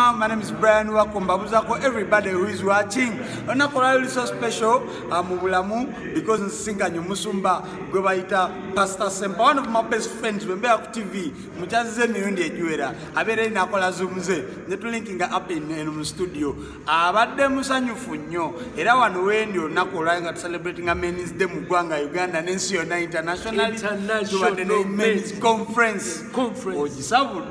Ah, my name is Brian Wakombabuzako. Everybody who is watching, onakola so special ah, mu bulamu because nsinga nyo musumba gwe bayita Pastor Sempa, one of my best friends we mbeera ku TV mukyazize emirundi egiwera abeera eri nakola zoom ze ne tulinkinga up in eno mu studio abadde musanyufu nnyo era wano wendi olunaku olwali nga tucelebratinga men's day mu ggwanga Uganda n'ensi yonna internationally tubadde ne men's conference ogisabudde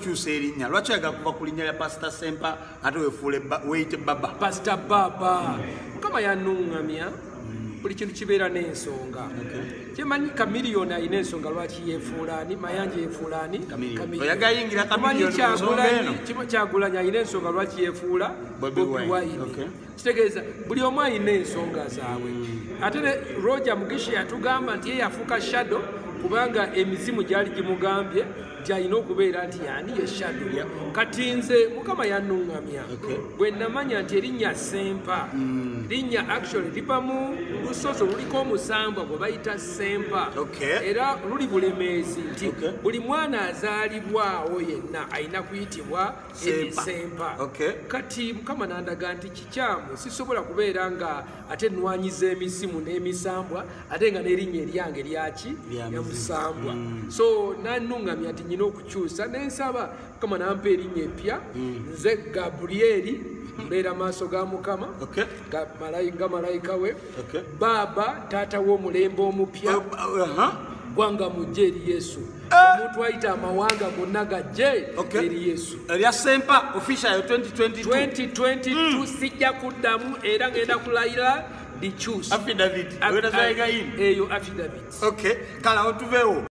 kyusa erinnya lwaki oyagala kuva ku linnya lya pasita sempa ate wefuule weyite baba pasita baba mukama yanuŋŋamya buli kintu kibeera n'ensonga kyemanyi kamiliyoni alina ensonga lwaki yefuulaani mayanja yefuulaani kyagulanyi alina ensonga lwaki yefuula bobiwine kitegeeza buli omu alina ensonga zaabwe hmm. ate ne roger mugisha yatugamba nti ye yafuuka shadow kubanga emizimu gyali gimugambye nti alina okubeera nti yani ye shadow kati nze mukama yanuŋŋamya bwe namanya nti erinnya sempa hmm. linnya actually liva mu lusozi oluliko omusambwa gwe bayita sempa era luli bulemeezi nti buli mwana azaalibwawo yenna alina kuyitibwa sempa okay. kati mukama nandaga nti kikyamu sisobola kubeera nga ate nwanyiza emisimu n'emisambwa ate nga nerinnya eryange lyaki yamusambwa mm. so nanuŋamya nti nyina okukyusa nensaba mukama nampa erinnya eppya mm. nze gabrieli mbeera maaso ga mukama okay. nga malayika we okay. baaba taata w'omulembe omupya uh -huh. gwanga mujja eri yesu omuntu ayita amawanga gonna gajje eri yesu erya sempa official 2022 sijja kuddamu era ngenda kulayira eyo affidavit kale awo tuveewo